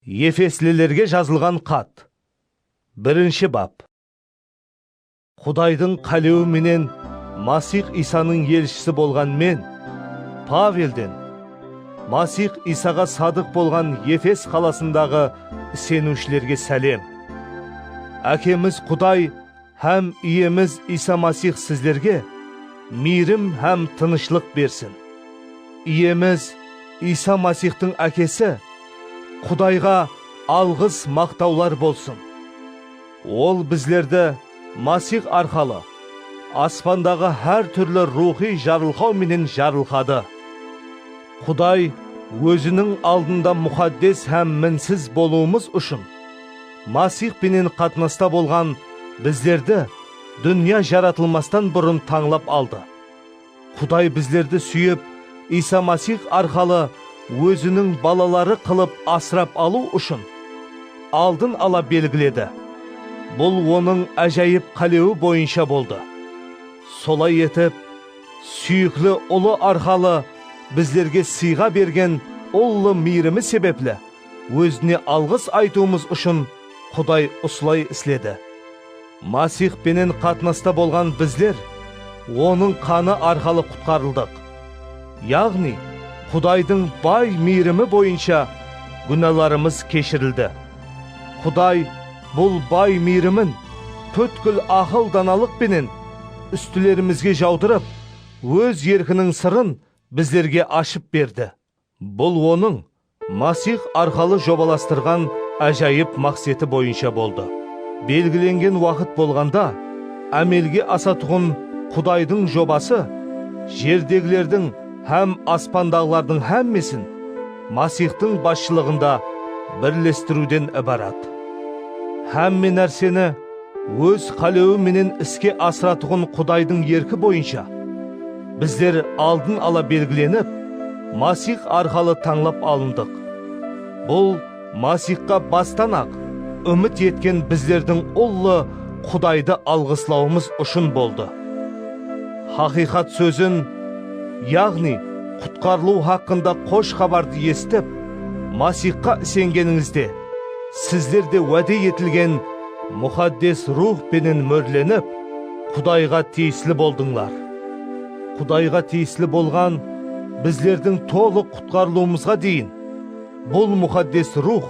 Efeslilerge jazılǵan xat. Birinshi bap. Qudaydıń qálewi menen Masix Iysanıń elshisi bolǵan men, Pavelden, Masix Iysaǵa sadıq bolǵan Efes qalasındaǵı iseniwshilerge sálem. Ákemiz Quday hám Iyemiz Iysa Masix sizlerge miyrim hám tınıshlıq bersin. Iyemiz Iysa Masixtıń Ákesi Qudayǵa alǵıs maqtawlar bolsın! Ol bizlerdi Masix arqalı aspandaǵı hár túrli ruwxıy jarılqaw menen jarılqadı. Quday Óziniń aldında muxaddes hám minsiz bolıwımız ushın. Masix penen qatnasta bolǵan bizlerdi dúnya jaratılmastan burın tańlap aldı. Quday bizlerdi súyip, Iysa Masix arqalı Óziniń balaları qılıp asırap alıw ushın aldın ala belgiledi. Bul Onıń ájayıp qálewi boyınsha boldı. Solay etip, súyikli Ulı arqalı bizlerge sıyǵa bergen ullı miyrimi sebepli, Ózine alǵıs aytıwımız ushın Quday usılay isledi. Masix penen qatnasta bolǵan bizler Onıń qanı arqalı qutqarıldıq. Yaǵnıy, Qudaydıń bay miyrimi boyınsha gúnalarımız keshirildi. Quday bul bay miyrimin pútkil aqıl-danalıq penen ústilerimizge jawdırıp, Óz erkiniń sırın bizlerge ashıp berdi. Bul Onıń Masix arqalı jobalastırǵan ájayıp maqseti boyınsha boldı. Belgilengen waqıt bolǵanda ámelge asatuǵın Qudaydıń jobası jerdegilerdiń hám aspandaǵılardıń hámmesin Masixtıń basshılıǵında birlestiriwden ibarat. Hámme nárseni. Óz qálewi menen iske asıratuǵın Qudaydıń erki boyınsha, bizler aldın ala belgilenip, Masix arqalı tańlap alındıq. Bul Masixqa bastan-aq úmit etken bizlerdiń ullı Qudaydı alǵıslawımız ushın boldı. Haqıyqat sózin, yaǵnıy qutqarılıw haqqında Qosh Xabardı esitip, Masixqa isengenińizde, Sizlerde wáde etilgen Muxaddes Ruwx penen mórlenip, Qudayǵa tiyisli boldıńlar. Qudayǵa tiyisli bolǵan bizlerdiń tolıq qutqarılıwımızǵa deyin, bul Muxaddes Ruwx,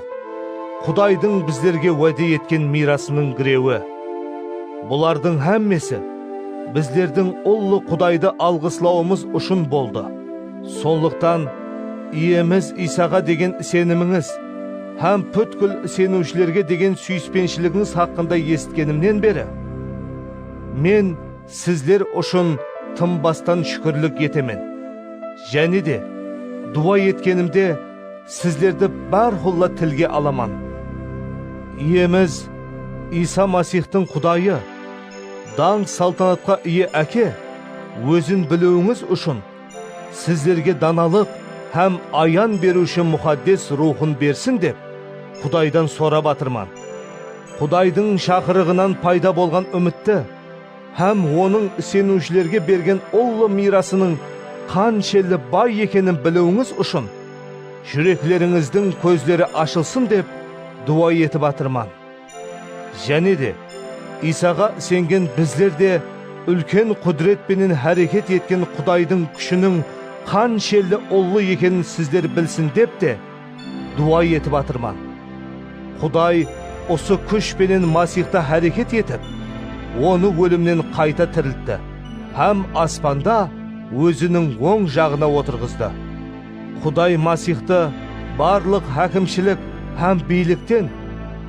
Qudaydıń bizlerge wáde etken miyrasınıń girewi. Bulardıń hámmesi bizlerdiń ullı Qudaydı alǵıslawımız ushın boldı. Sonlıqtan, Iyemiz Iysaǵa degen isenimińiz, Hám pútkil iseniwshilerge degen súyispenshiliginiz haqqında esitkenimnen beri, men sizler ushın tınbastan shúkirlik etemen. Jáne de, duwa etkenimde sizlerdi bárqulla tilge alaman. Iyemiz Iysa Masixtıń Qudayı, dańq-saltanatqa iye Áke, Ózin biliwińiz ushın, Sizlerge danalıq hám ayan beriwshi Muxaddes Ruwxın bersin dep, Qudaydan sorap atırman. Qudaydıń shaqırıǵınan payda bolǵan úmitti hám Onıń iseniwshilerge bergen ullı miyrasınıń qanshelli bay ekenin biliwińiz ushın, júreklerińizdiń kózleri ashılsın dep duwa etip atırman. Jáne de, Iysaǵa isengen bizler de úlken qúdiret penen háreket etken Qudaydıń kúshiniń qanshelli ullı ekenin sizler bilsin dep te, duwa etip atırman. Quday usı kúsh penen Masixta háreket etip, Onı ólimnen qayta tiriltti hám aspanda Óziniń oń jaǵına otırǵızdı. Quday Masixtı barlıq hákimshilik hám biylikten,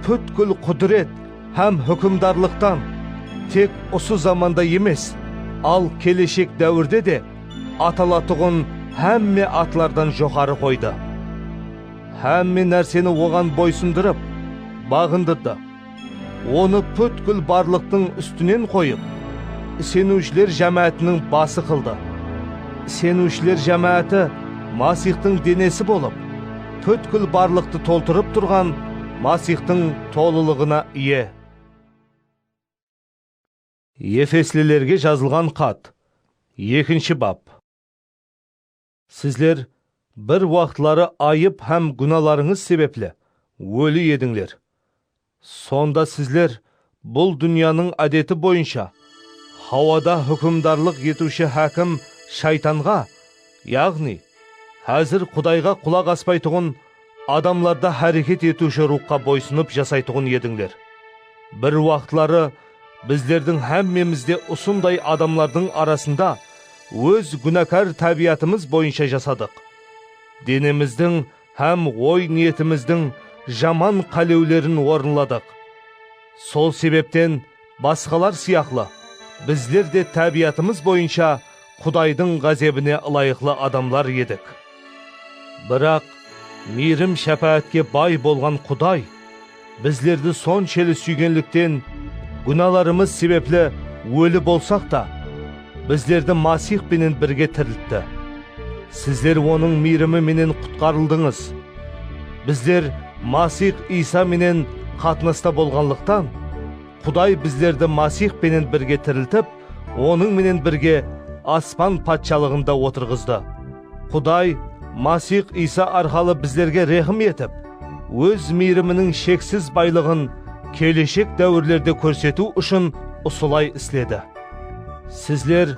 pútkil qudiret hám húkimdarlıqtan, tek usı zamanda emes, al keleshek dáwirde de atalatuǵın hámme atlardan joqarı qoydı. Hámme nárseni Oǵan boysındırıp, baǵındırdı. Onı pútkil barlıqtıń ústinen qoyıp, iseniwshiler jámáátiniń bası qıldı. Iseniwshiler jámááti Masixtıń denesi bolıp, pútkil barlıqtı toltırıp turǵan Masixtıń tolılıǵına iye. Efeslilerge jazılǵan xat, ekinshi bap. Sizler bir waqıtları ayıp hám gúnalarıńız sebepli óli edińler. Sonda sizler bul dúnyanıń ádeti boyınsha hawada húkimdarlıq etiwshi hákim Shaytanǵa, yaǵnıy, házir Qudayǵa qulaq aspaytuǵın, Adamlarda háreket etiwshi ruwxqa boysınıp jasaytuǵın edińler. Bir waqıtları bizlerdiń hámmemiz de usınday adamlardıń arasında óz gúnakar tábiyatımız boyınsha jasadıq. Denemizdiń hám oy-niyetimizdiń jaman qálewlerin orınladıq. Sol sebepten Basqalar sıyaqlı, bizler de tábiyatımız boyınsha Qudaydıń ǵázebine ılayıqlı adamlar edik. Biraq, miyrim-shápáátke bay bolǵan Quday bizlerdi sonsheli súygenlikten, gúnalarımız sebepli óli bolsaq ta, Bizlerdi Masix penen birge tiriltti. Sizler Onıń miyrimi menen qutqarıldıńız. Bizler Masix Iysa menen qatnasta bolǵanlıqtan, Quday bizlerdi Masix penen birge tiriltip, Onıń menen birge Aspan Patshalıǵında otırǵızdı. Quday Masix Iysa arqalı bizlerge rehim etip, Óz miyriminiń sheksiz baylıǵın keleshek dáwirlerde kórsetiw ushın usılay isledi. Sizler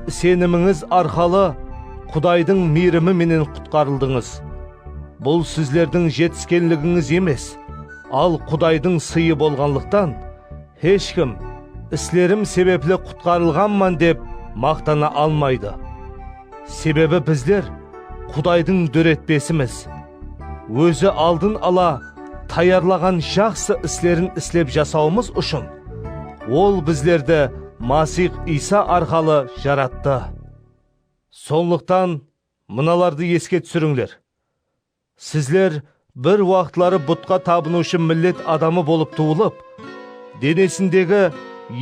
isenimińiz arqalı Qudaydıń miyrimi menen qutqarıldıńız. Bul sizlerdiń jetiskenligińiz emes, al Qudaydıń sıyı bolǵanlıqtan, Hesh kim, islerim sebepli qutqarılǵanman dep maqtana almaydı. Sebebi bizler Qudaydıń dóretpesimiz. Ózi aldın ala tayarlaǵan jaqsı islerin islep jasawımız ushın, Ol bizlerdi Masix Iysa arqalı jarattı. Sonlıqtan mınalardı eske túsirińler, Sizler bir waqıtları butqa tabınıwshı millet adamı bolıp tuwılıp, denesindegi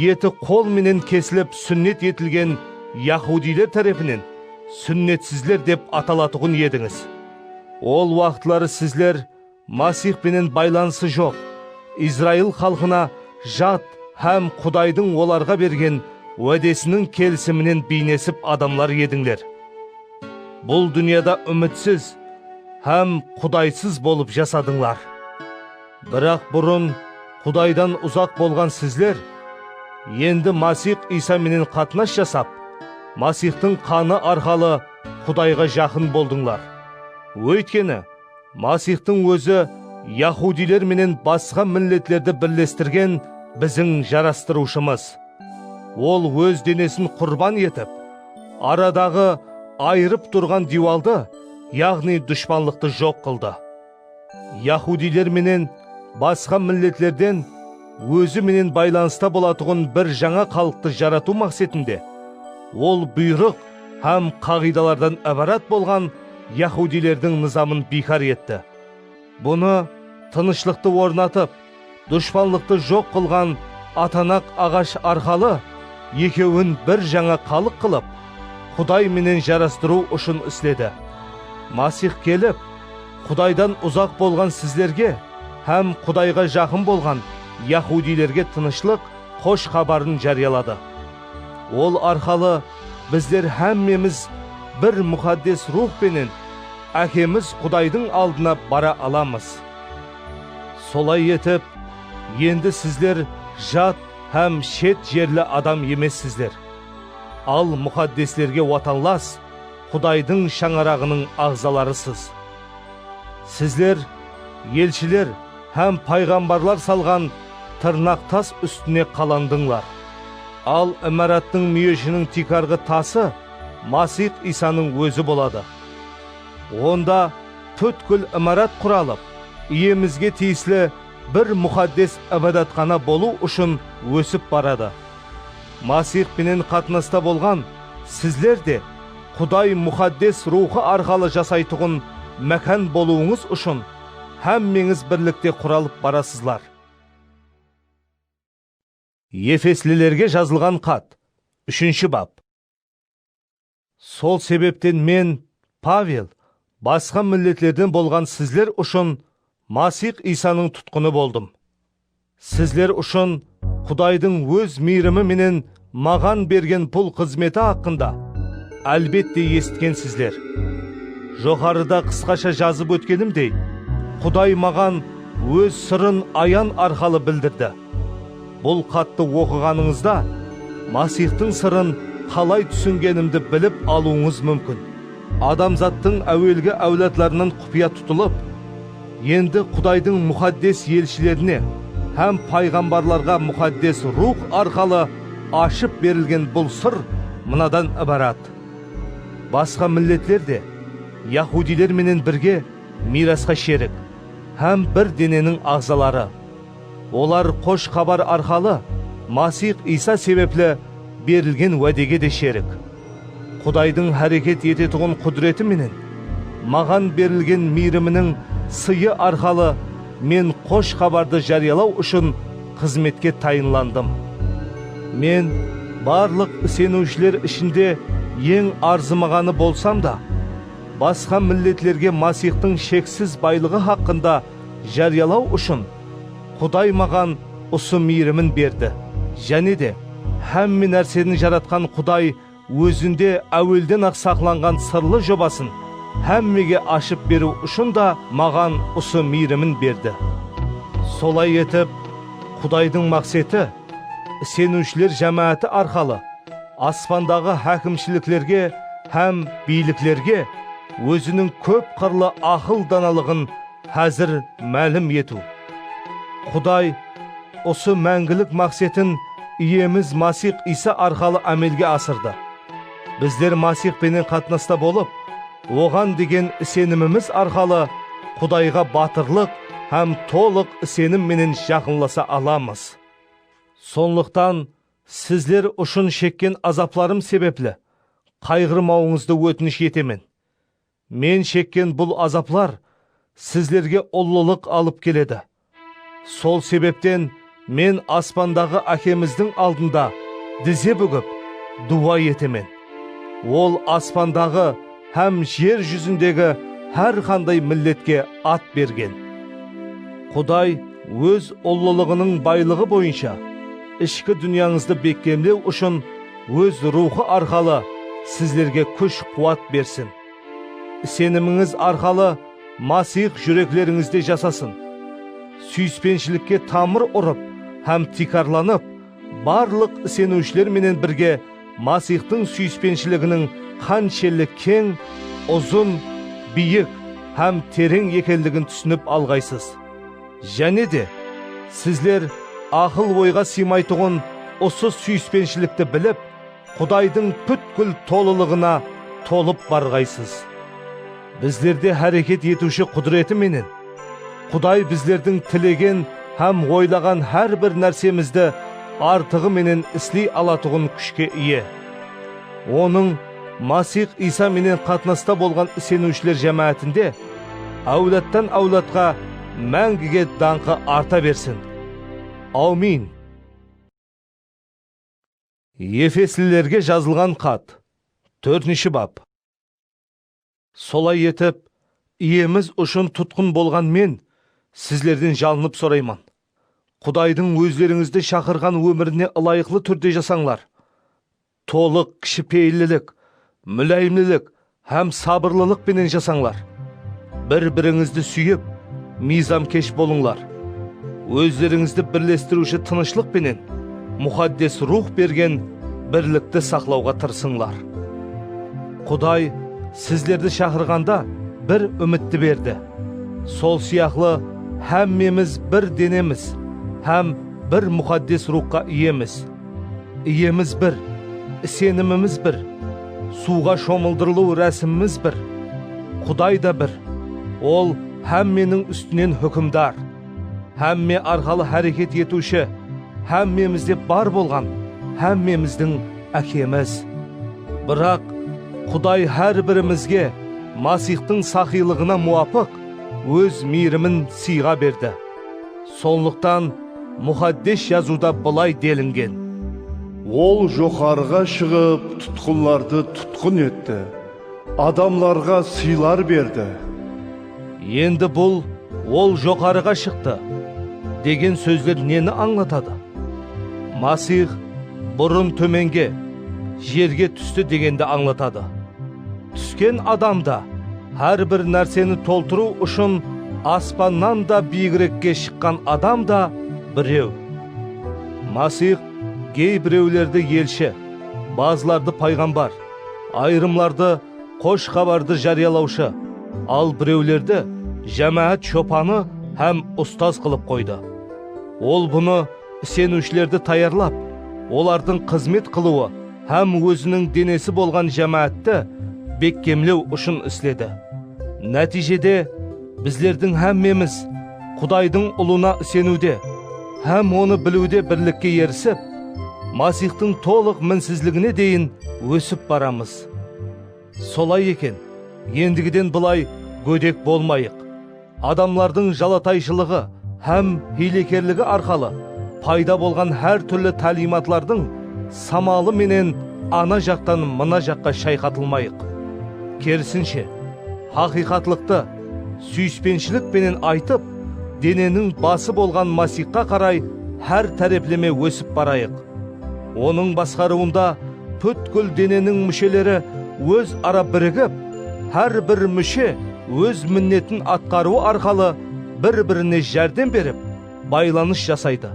eti qol menen kesilip súnnet etilgen yaxudiyler tárepinen súnnetsizler dep atalatuǵın edińiz. Ol waqıtları sizler Masix penen baylanısı joq, Izrail xalqına jat hám Qudaydıń olarǵa bergen wádesiniń kelisiminen biynesip adamlar edińler. Bul dúnyada úmitsiz hám Qudaysız bolıp jasadıńlar. Biraq burın Qudaydan uzaq bolǵan sizler, endi Masix Iysa menen qatnas jasap, Masixtıń qanı arqalı Qudayǵa jaqın boldıńlar. Óytkeni, Masixtıń Ózi yahudiyler menen basqa milletlerdi birlestirgen biziń Jarastırıwshımız. Ol Óz denesin qurban etip, aradaǵı ayırıp turǵan diywaldı, yaǵnıy dushpanlıqtı joq qıldı. Yahudiyler menen basqa milletlerden Ózi menen baylanısta bolatuǵın bir jańa xalıqtı jaratıw maqsetinde, Ol buyrıq hám qaǵıydalardan ibarat bolǵan Yahudiylerdiń nızamın biykar etti. Bunı tınıshlıqtı ornatıp, dushpanlıqtı joq qılǵan atanaq aǵash arqalı ekewin bir jańa xalıq qılıp, Quday menen jarastırıw ushın isledi. Masix kelip, Qudaydan uzaq bolǵan sizlerge hám Qudayǵa jaqın bolǵan yahudiylerge tınıshlıq xosh xabarın járiyaladı. Ol arqalı Bizler hámmemiz bir Muxaddes Ruwx penen Ákemiz Qudaydıń aldına bara alamız. Solay etip, endi sizler jat hám shet jerli adam emessizler, al muxaddeslerge watanlas, Qudaydıń shańaraǵınıń aǵzalarısız. Sizler, elshiler, Hám payǵambarlar salǵan tırnaq tas ústine qalandıńlar. Al imarattıń múyeshiniń tiykarǵı tası Masix Iysanıń Ózi boladı. Onda pútkil imarat quralıp, Iyemizge tiyisli bir muxaddes ibadatxana bolıw ushın ósip baradı. Masix penen qatnasta bolǵan sizler de Quday Muxaddes Ruwxı arqalı jasaytuǵın mákan bolıwıńız ushın Hámmeńiz birlikte quralıp barasızlar. Efeslilerge jazılǵan xat, úshinshi bap. Sol sebepten men, Pavel, basqa milletlerden bolǵan sizler ushın Masix Iysanıń tutqını boldım. Sizler ushın Qudaydıń Óz miyrimi menen maǵan bergen bul xızmeti haqqında, álbette, esitkensizler. Joqarıda qısqasha jazıp ótkenimdey, Quday maǵan Óz sırın ayan arqalı bildirdi. Bul xattı oqıǵanıńızda, Masixtıń sırın qalay túsingenimdi bilip alıwıńız múmkin. Adamzattıń áwelgi áwladlarınan qupıya tutılıp, Endi Qudaydıń muxaddes elshilerine hám payǵambarlarǵa Muxaddes Ruwx arqalı ashıp berilgen bul sır mınadan ibarat, Basqa milletler de yahudiyler menen birge miyrasqa sherik hám bir deneniń aǵzaları. Olar Xosh Xabar arqalı Masix Iysa sebepli berilgen wádege de sherik. Qudaydıń háreket etetuǵın qúdireti menen maǵan berilgen miyriminiń sıyı arqalı men Xosh Xabardı járiyalaw ushın xızmetke tayınlandım. Men barlıq iseniwshiler ishinde eń arzımaǵanı bolsam da, basqa milletlerge Masixtıń sheksiz baylıǵı haqqında járiyalaw ushın, Quday maǵan usı miyrimin berdi. Jáne de, hámme nárseni jaratqan Quday Ózinde áuelden-aq saqlanǵan sırlı jobasın hámmege ashıp beriw ushın da maǵan usı miyrimin berdi. Solay etip, Qudaydıń maqseti, iseniwshiler jámááti arqalı, aspandaǵı hákimshiliklerge hám biyliklerge Óziniń kóp qırlı aqıl-danalıǵın Házir málim etiw. Quday usı máńgilik maqsetin Iyemiz Masix Iysa arqalı ámelge asırdı. Bizler Masix penen qatnasta bolıp, Oǵan degen isenimimiz arqalı Qudayǵa batırlıq hám tolıq isenim menen jaqınlasa alamız. Sonlıqtan, sizler ushın shekken azaplarım sebepli qayǵırmawıńızdı ótinish etemen. Men shekken bul azaplar sizlerge ullılıq alıp keledi. Sol sebepten men aspandaǵı Ákemizdiń aldında dize búgip, duwa etemen. Ol aspandaǵı hám jer júzindegi hár qanday milletke at bergen. Quday Óz ullılıǵınıń baylıǵı boyınsha ishki dúnyańızdı bekkemlew ushın, Óz Ruwxı arqalı sizlerge kúsh-quwat bersin. Isenimińiz arqalı Masiyx júreklerińizde jasasın. Súyispenshilikge tamır urıp hám tiykarlanıp, barlıq iseniwshiler menen birge Masiyxtıń súyispenshiliginiń qanshelli keń, uzın, biyik hám tereń ekenligin túsinip alǵaysız. Jáne de, sizler aqıl-oyǵa sıymaytuǵın usı súyispenshilikti bilip, Qudaydıń pútkil tolılıǵına tolıp barǵaysız. Bizlerde háreket etiwshi qúdireti menen, Quday bizlerdiń tilegen hám oylaǵan hár bir nársemizdi artıǵı menen isley alatuǵın kúshke iye. Onıń. Masix Iysa menen qatnasta bolǵan iseniwshiler jámáátinde áwladtan-áwladqa máńgige dańqı arta bersin! Awmin! Efeslilerge jazılǵan xat, tórtinshi bap. Solay etip, Iyemiz ushın tutqın bolǵan men sizlerden jalınıp sorayman, Qudaydıń ózlerińizdi shaqırǵan ómirine ılayıqlı túrde jasańlar, tolıq kishipeyillilik, múláyimlilik hám sabırlılıq penen jasańlar, bir-birińizdi súyip, miyzamkesh bolıńlar, ózlerińizdi birlestiriwshi tınıshlıq penen Muxaddes Ruwx bergen birlikti saqlawǵa tırısıńlar. Quday sizlerdi shaqırǵanda bir úmitti berdi. Sol sıyaqlı hámmemiz bir denemiz hám bir Muxaddes Ruwxqa iyemiz. Iyemiz bir, isenimimiz bir, suwǵa shomıldırılıw rásimimiz bir. Quday da bir, Ol hámmeniń ústinen húkimdar, hámme arqalı háreket etiwshi, hámmemizde bar bolǵan, hámmemizdiń Ákemiz. Biraq, Quday hár birimizge Masixtıń saxıylıǵına muwapıq Óz miyrimin sıyǵa berdi. Sonlıqtan, Muxaddes Jazıwda bılay delingen. Ol joqarıǵa shıǵıp, tutqınlardı tutqın etti. Adamlarǵa sıylar berdi. Endi bul Ol joqarıǵa shıqtı degen sózler neni ańlatadı? Masix burın tómenge, jerge tústi degendi ańlatadı. Túsken adam da hár bir nárseni toltırıw ushın aspannan da biyigrekke shıqqan adam da birew. Masix gey birewlerdi elshi, bazılardı payǵambar, Ayırımlardı xosh xabardı járiyalawshı, al birewlerdi jámáát shopanı hám ustaz qılıp qoydı. Ol bunı iseniwshilerdi tayarlap, olardıń xızmet qılıwı hám óziniń denesi bolǵan jámáátti bekkemlew ushın isledi. Nátiyjede, Bizlerdiń hámmemiz Qudaydıń Ulına iseniwde hám Onı biliwde birlikke erisip, Masixtıń tolıq minsizligine deyin ósip baramız. Solay eken, endigiden bılay gódek bolmayıq, adamlardıń jalatayshılıǵı hám hiylekerligi arqalı payda bolǵan hár túrli táliyimatlardıń, samalı menen ana jaqtan mına jaqqa shayqatılmayıq. Kerisinshe, haqıyqatlıqtı súyispenshilik penen aytıp, deneniń bası bolǵan Masixqa qaray hár tárepleme ósip barayıq. Onıń basqarıwında pútkil deneniń músheleri óz ara birigip, hár bir múshe óz minnetin atqarıwı arqalı bir-birine járdem berip, baylanıs jasaydı.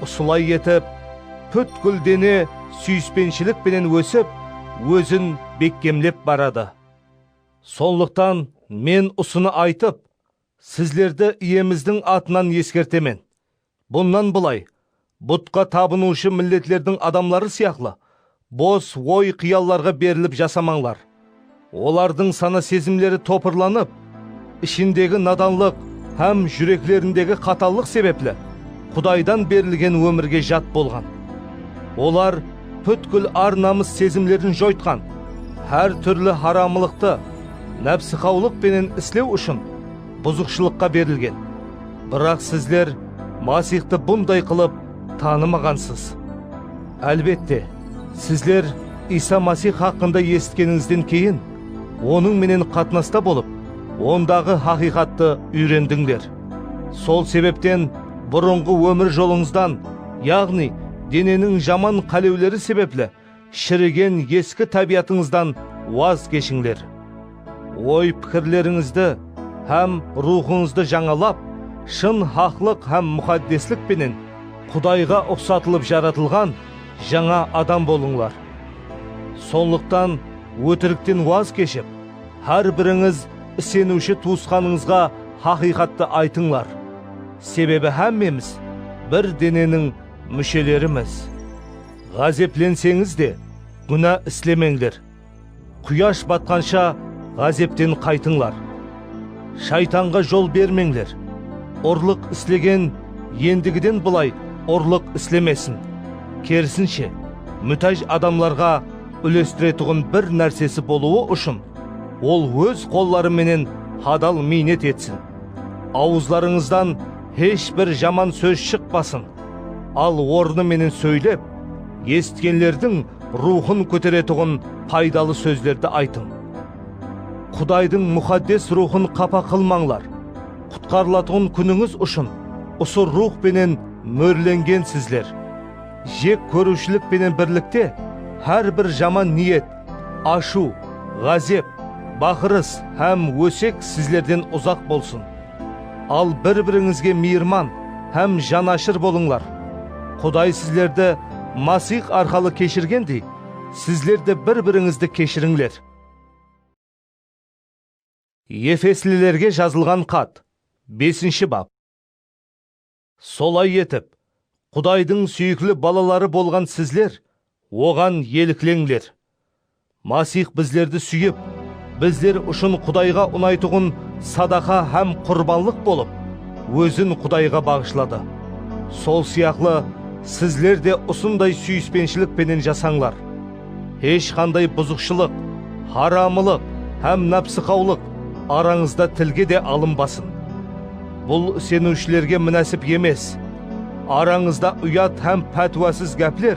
Usılay etip, pútkil dene súyispenshilik penen ósip, ózin bekkemlep baradı. Sonlıqtan men usını aytıp, sizlerdi Iyemizdiń atınan eskertemen, bunnan bılay, butqa tabınıwshı milletlerdiń adamları sıyaqlı, Bos oy-qıyallarǵa berilip jasamańlar. Olardıń sana-sezimleri topırlanıp, ishindegi nadanlıq hám júreklerindegi qatallıq sebepli Qudaydan berilgen ómirge jat bolǵan. Olar pútkil ar-namıs sezimlerin joytqan, hár túrli haramılıqtı nápsiqawlıq penen islew ushın buzıqshılıqqa berilgen. Biraq sizler Masixtı bunday qılıp tanımaǵansız. Álbette, sizler Iysa Masix haqqında esitkenińizden keyin, Onıń menen qatnasta bolıp, Ondaǵı haqıyqattı úyrendińler. Sol sebepten burınǵı ómir jolıńızdan, yaǵnıy deneniń jaman qálewleri sebepli shirigen eski tábiyatıńızdan waz keshińler. Oy-pikirlerińizdi hám ruwxıńızdı jańalap, shın haqlıq hám muxaddeslik penen Qudayǵa uqsatılıp jaratılǵan jańa adam bolıńlar. Sonlıqtan ótirikten waz keship, hár birińiz iseniwshi tuwısqanıńızǵa haqıyqattı aytıńlar, sebebi hámmemiz bir deneniń múshelerimiz. Ǵázeplenseńiz de, gúna islemeńler. Quyash batqansha ǵázepten qaytıńlar. Shaytanǵa jol bermeńler. Urlıq islegen endigiden bılay urlıq islemesin. Kerisinshe, mútáj adamlarǵa úlestiretuǵın bir nársesi bolıwı ushın, ol óz qolları menen hadal miynet etsin. Awızlarıńızdan hesh bir jaman sóz shıqpasın, al ornı menen sóylep, esitkenlerdiń ruwxın kóteretuǵın paydalı sózlerdi aytıń. Qudaydıń Muxaddes Ruwxın qapa qılmańlar, qutqarılatuǵın kúnińiz ushın usı Ruwx penen mórlengensizler. Jek kóriwshilik penen birlikte, hár bir jaman niyet, ashıw, ǵázep, baqırıs hám ósek sizlerden uzaq bolsın. Al bir-birińizge miyirman hám janashır bolıńlar. Quday sizlerdi Masix arqalı keshirgendey, sizler de bir-birińizdi keshirińler. Efeslilerge jazılǵan xat, besinshi bap. Solay etip, Qudaydıń súyikli balaları bolǵan sizler Oǵan elikleńler. Masix bizlerdi súyip, bizler ushın Qudayǵa unaytuǵın sadaqa hám qurbanlıq bolıp, Ózin Qudayǵa baǵıshladı. Sol sıyaqlı, sizler de usınday súyispenshilik penen jasańlar. Hesh qanday buzıqshılıq, haramılıq hám nápsiqawlıq arańızda tilge de alınbasın. Bul iseniwshilerge minásip emes. Arańızda uyat hám pátiwasız gápler,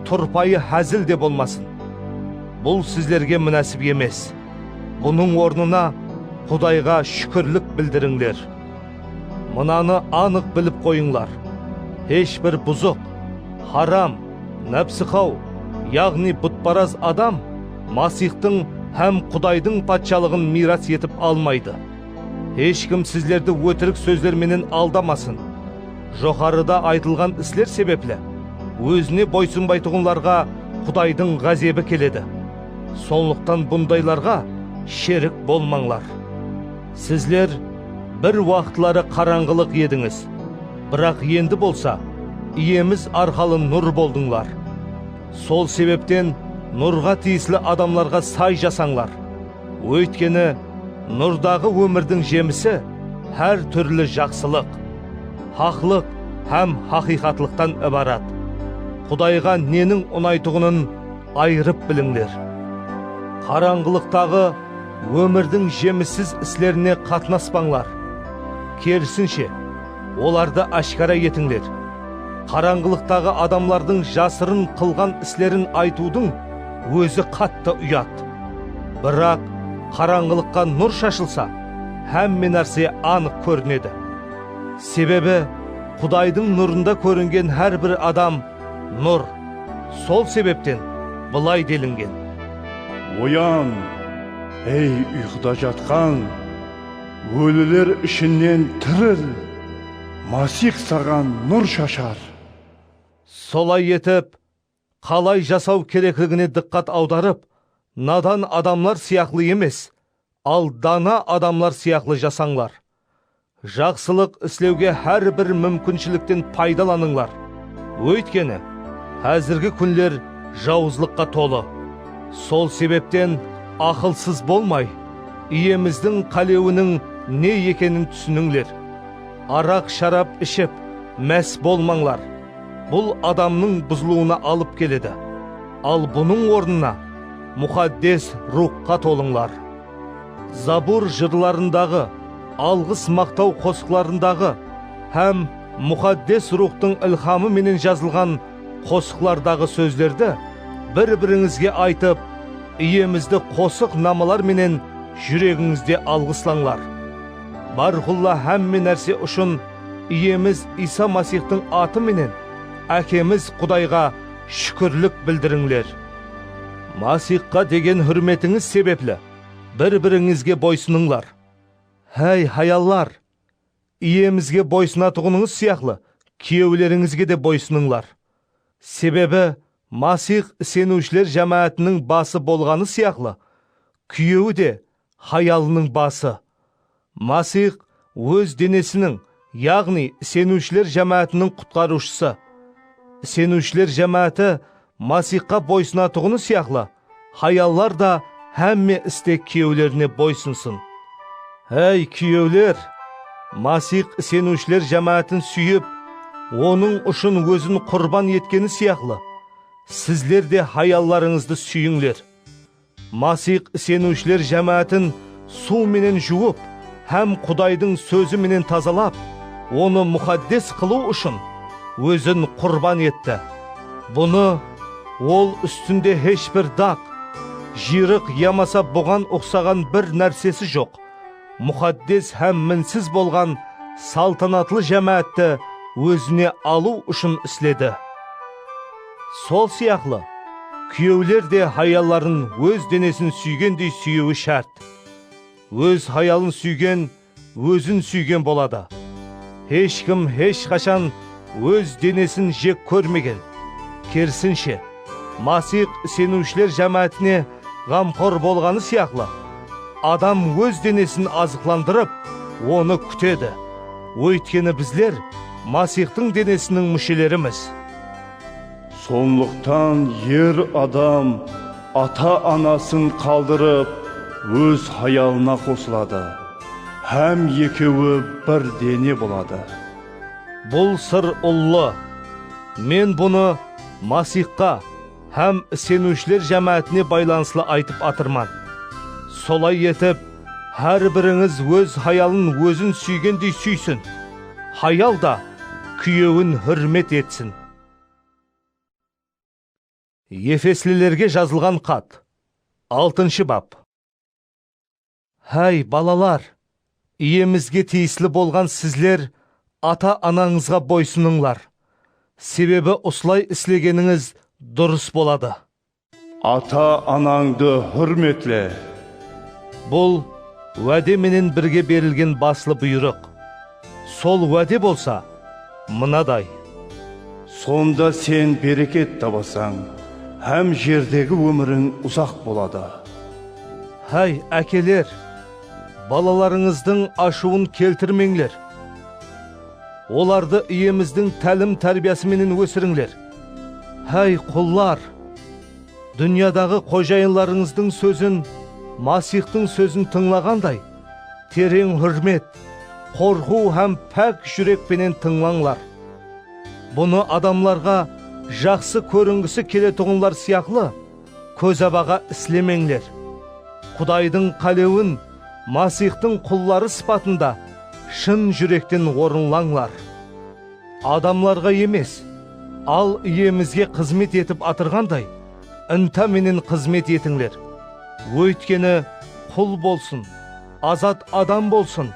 turpayı házil de bolmasın. Bul sizlerge minásip emes. Bunıń ornına Qudayǵa shúkirlik bildirińler. Mınanı anıq bilip qoyıńlar, hesh bir buzıq, haram, nápsiqaw, yaǵnıy butparaz adam Masixtıń hám Qudaydıń Patshalıǵın miyras etip almaydı. Hesh kim sizlerdi ótirik sózler menen aldamasın. Joqarıda aytılǵan isler sebepli Ózine boysınbaytuǵınlarǵa Qudaydıń ǵázebi keledi. Sonlıqtan bundaylarǵa sherik bolmańlar. Sizler bir waqıtları qarańǵılıq edińiz, biraq endi bolsa Iyemiz arqalı nur boldıńlar. Sol sebepten nurǵa tiyisli adamlarǵa say jasańlar. Óytkeni, nurdaǵı ómirdiń jemisi hár túrli jaqsılıq, haqlıq hám haqıyqatlıqtan ibarat. Qudayǵa neniń unaytuǵının ayırıp bilińler. Qarańǵılıqtaǵı Ómirdiń jemissiz islerine qatnaspańlar. Kerisinshe, olardı áshkara etińler. Qarańǵılıqtaǵı adamlardıń jasırın qılǵan islerin aytıwdıń ózi qattı uyat. Biraq qarańǵılıqqa nur shashılsa, hámme nárse anıq kórinedi. Sebebi, Qudaydıń nurında kóringen hár bir adam Nur. Sol sebepten bılay delingen. Oyan, ey uyqıda jatqan, óliler ishinnen tiril, Masix saǵan nur shashar. Solay etip, qalay jasaw kerekligine dıqqat awdarıp, nadan adamlar sıyaqlı emes, al dana adamlar sıyaqlı jasańlar. Jaqsılıq islewge hár bir múmkinshilikten paydalanıńlar, óytkeni, házirgi kúnler jawızlıqqa tolı. Sol sebepten aqılsız bolmay, Iyemizdiń qálewiniń ne ekenin túsinińler. Araq-sharap iship, más bolmańlar, bul adamnıń buzılıwına alıp keledi. Al bunıń ornına Muxaddes Ruwxqa tolıńlar. Zabur jırlarındaǵı, alǵıs-maqtaw qosıqlarındaǵı hám Muxaddes Ruwxtıń ilhamı menen jazılǵan qosıqlardaǵı sózlerdi bir-birińizge aytıp, Iyemizdi qosıq namalar menen júregińizde alǵıslańlar. Bárqulla hámme nárse ushın Iyemiz Iysa Masixtıń atı menen Ákemiz Qudayǵa shúkirlik bildirińler. Masixqa degen húrmetińiz sebepli, bir-birińizge boysınıńlar. Háy, hayallar! Iyemizge boysınatuǵınıńız sıyaqlı, kúyewlerińizge de boysınıńlar. Sebebi, Masix iseniwshiler jámáátiniń bası bolǵanı sıyaqlı, kúyewi de hayalınıń bası. Masiyx Óz denesiniń, yaǵnıy iseniwshiler jámáátiniń Qutqarıwshısı. Iseniwshiler jámááti Masiyxqa boysınatuǵını sıyaqlı, hayallar da hámme iste kúyewlerine boysınsın. Áy, kúyewler! Masiyx iseniwshiler jámáátin súyip, Onıń ushın Ózin qurban etkeni sıyaqlı, sizler de hayallarıńızdı súyińler. Masix iseniwshiler jámáátin suw menen juwıp hám Qudaydıń Sózi menen tazalap, onı muxaddes qılıw ushın Ózin qurban etti. Bunı Ol ústinde hesh bir daq, jıyrıq yamasa buǵan uqsaǵan bir nársesi joq, muxaddes hám minsiz bolǵan saltanatlı jámáátti Ózine alıw ushın isledi. Sol sıyaqlı, kúyewler de hayalların óz denesin súygendey súyewi shárt. Óz hayalın súygen ózin súygen boladı. Hesh kim hesh qashan óz denesin jek kórmegen. Kerisinshe, Masix iseniwshiler jámáátine ǵamqor bolǵanı sıyaqlı, adam óz denesin azıqlandırıp, onı kútedi. Óytkeni bizler Masixtıń denesiniń múshelerimiz. Sonlıqtan er adam ata-anasın qaldırıp, óz hayalına qosıladı hám ekewi bir dene boladı. Bul sır ullı. Men bunı Masixqa. Hám iseniwshiler jámáátine baylanıslı aytıp atırman. Solay etip, hár birińiz óz hayalın ózin súygendey súysin, hayal da kúyewin húrmet etsin. Efeslilerge jazılǵan xat, altınshı bap. Háy, balalar! Iyemizge tiyisli bolǵan sizler ata-anańızǵa boysınıńlar, sebebi usılay islegenińiz durıs boladı. Ata-anańdı húrmetle. Bul, wáde menen birge berilgen baslı buyrıq. Sol wáde bolsa mınaday. Sonda sen bereket tabasań hám jerdegi ómiriń uzaq boladı. Háy, ákeler, balalarıńızdıń ashıwın keltirmeńler. Olardı Iyemizdiń tálim-tárbiyası menen ósirińler. Háy, qullar, dúnyadaǵı qojayınlarıńızdıń sózin Masixtıń sózin tıńlaǵanday, Tereń húrmet, qorqıw hám pák júrek penen tıńlańlar. Bunı adamlarǵa jaqsı kóringisi keletuǵınlar sıyaqlı kózabaǵa islemeńler. Qudaydıń qálewin Masixtıń qulları sıpatında shın júrekten orınlańlar. Adamlarǵa emes, al Iyemizge xızmet etip atırǵanday, Inta menen xızmet etińler. Óytkeni, qul bolsın, azat adam bolsın,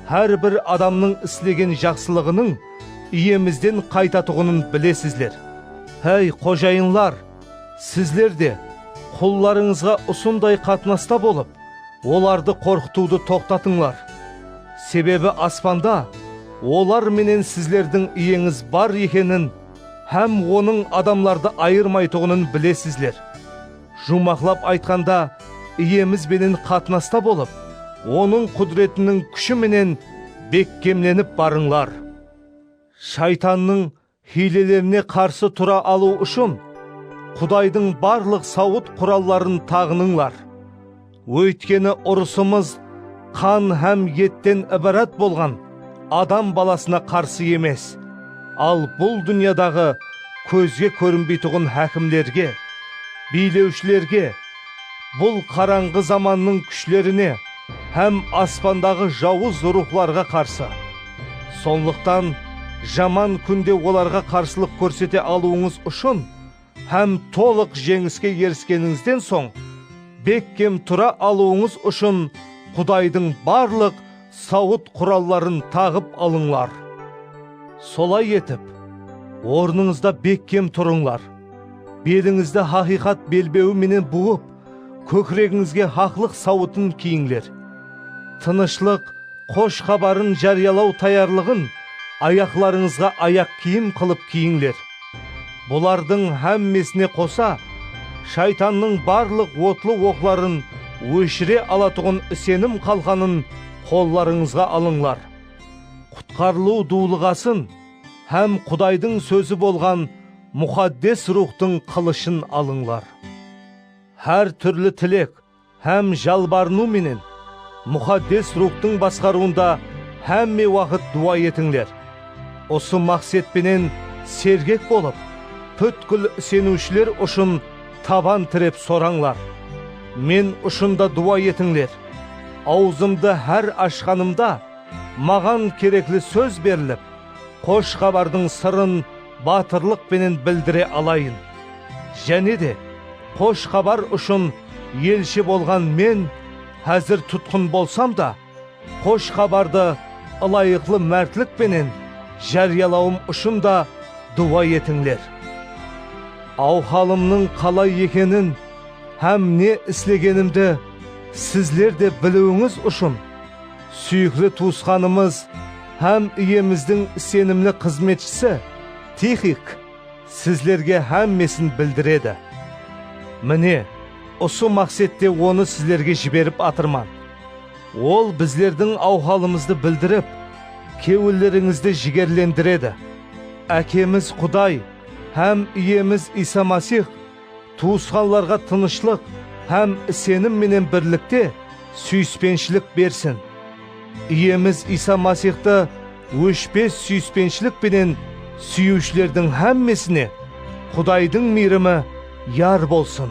hár bir adamnıń islegen jaqsılıǵınıń Iyemizden qaytatuǵının bilesizler. Háy, xojayınlar! Sizler de, qullarıńızǵa usınday qatnasta bolıp, olardı qorqıtıwdı toqtatıńlar. Sebebi aspanda olar menen sizlerdiń Iyeńiz bar ekenin Hám Onıń adamlardı ayırmaytuǵının bilesizler. Juwmaqlap aytqanda, Iyemiz benen qatnasta bolıp, Onıń qúdiretiniń kúshi menen bekkemlenip barıńlar. Shaytannıń hiylelerine qarsı tura alıw ushın, Qudaydıń barlıq sawıt quralların taǵınıńlar. Óytkeni urısımız qan hám etten ibarat bolǵan adam balasına qarsı emes, al bul dúnyadaǵı kózge kórinbeytuǵın hákimlerge, biylewshilerge, bul qarańǵı zamannıń kúshlerine hám aspandaǵı jawız ruwxlarǵa qarsı. Sonlıqtan jaman kúnde olarǵa qarsılıq kórsete alıwıńız ushın, hám tolıq jeńiske eriskenińizden soń bekkem tura alıwıńız ushın Qudaydıń barlıq sawıt quralların taǵıp alıńlar. Solay etip, ornıńızda bekkem turıńlar, belińizdi haqıyqat belbewi menen buwıp, kókiregińizge haqlıq sawıtın kiyińler. Tınıshlıq Xosh xabarın járiyalaw tayarlıǵın ayaqlarıńızǵa ayaq kiyim qılıp kiyińler. Bulardıń hámmesine qosa, Shaytannıń barlıq otlı oqların óshire alatuǵın isenim qalqanın qollarıńızǵa alıńlar. Qutqarılıw duwlıǵasın hám Qudaydıń Sózi bolǵan Muxaddes Ruwxtıń qılıshın alıńlar. Hár túrli tilek hám jalbarınıw menen Muxaddes Ruwxtıń basqarıwında hámme waqıt duwa etińler. Usı maqset penen sergek bolıp, pútkil iseniwshiler ushın taban tirep sorańlar. Men ushın da duwa etińler. Awzımdı hár ashqanımda, maǵan kerekli sóz berilip, Xosh Xabardıń sırın batırlıq penen bildire alayın. Jáne de, Xosh Xabar ushın elshi bolǵan men házir tutqın bolsam da, Xosh Xabardı ılayıqlı mártlik penen járiyalawım ushın da duwa etińler. Awhalımnıń qalay ekenin hám ne islegenimdi sizler de biliwińiz ushın, Súyikli tuwısqanımız hám Iyemizdiń isenimli xızmetshisi Tixik sizlerge hámmesin bildiredi. Mine, usı maqsette onı sizlerge jiberip atırman. Ol bizlerdiń awhalımızdı bildirip, kewillerińizdi jigerlendiredi. Ákemiz Quday hám Iyemiz Iysa Masix tuwısqanlarǵa tınıshlıq hám isenim menen birlikte súyispenshilik bersin. Iyemiz Iysa Masixtı óshpes súyispenshilik penen súyiwshilerdiń hámmesine Qudaydıń miyrimi yar bolsın.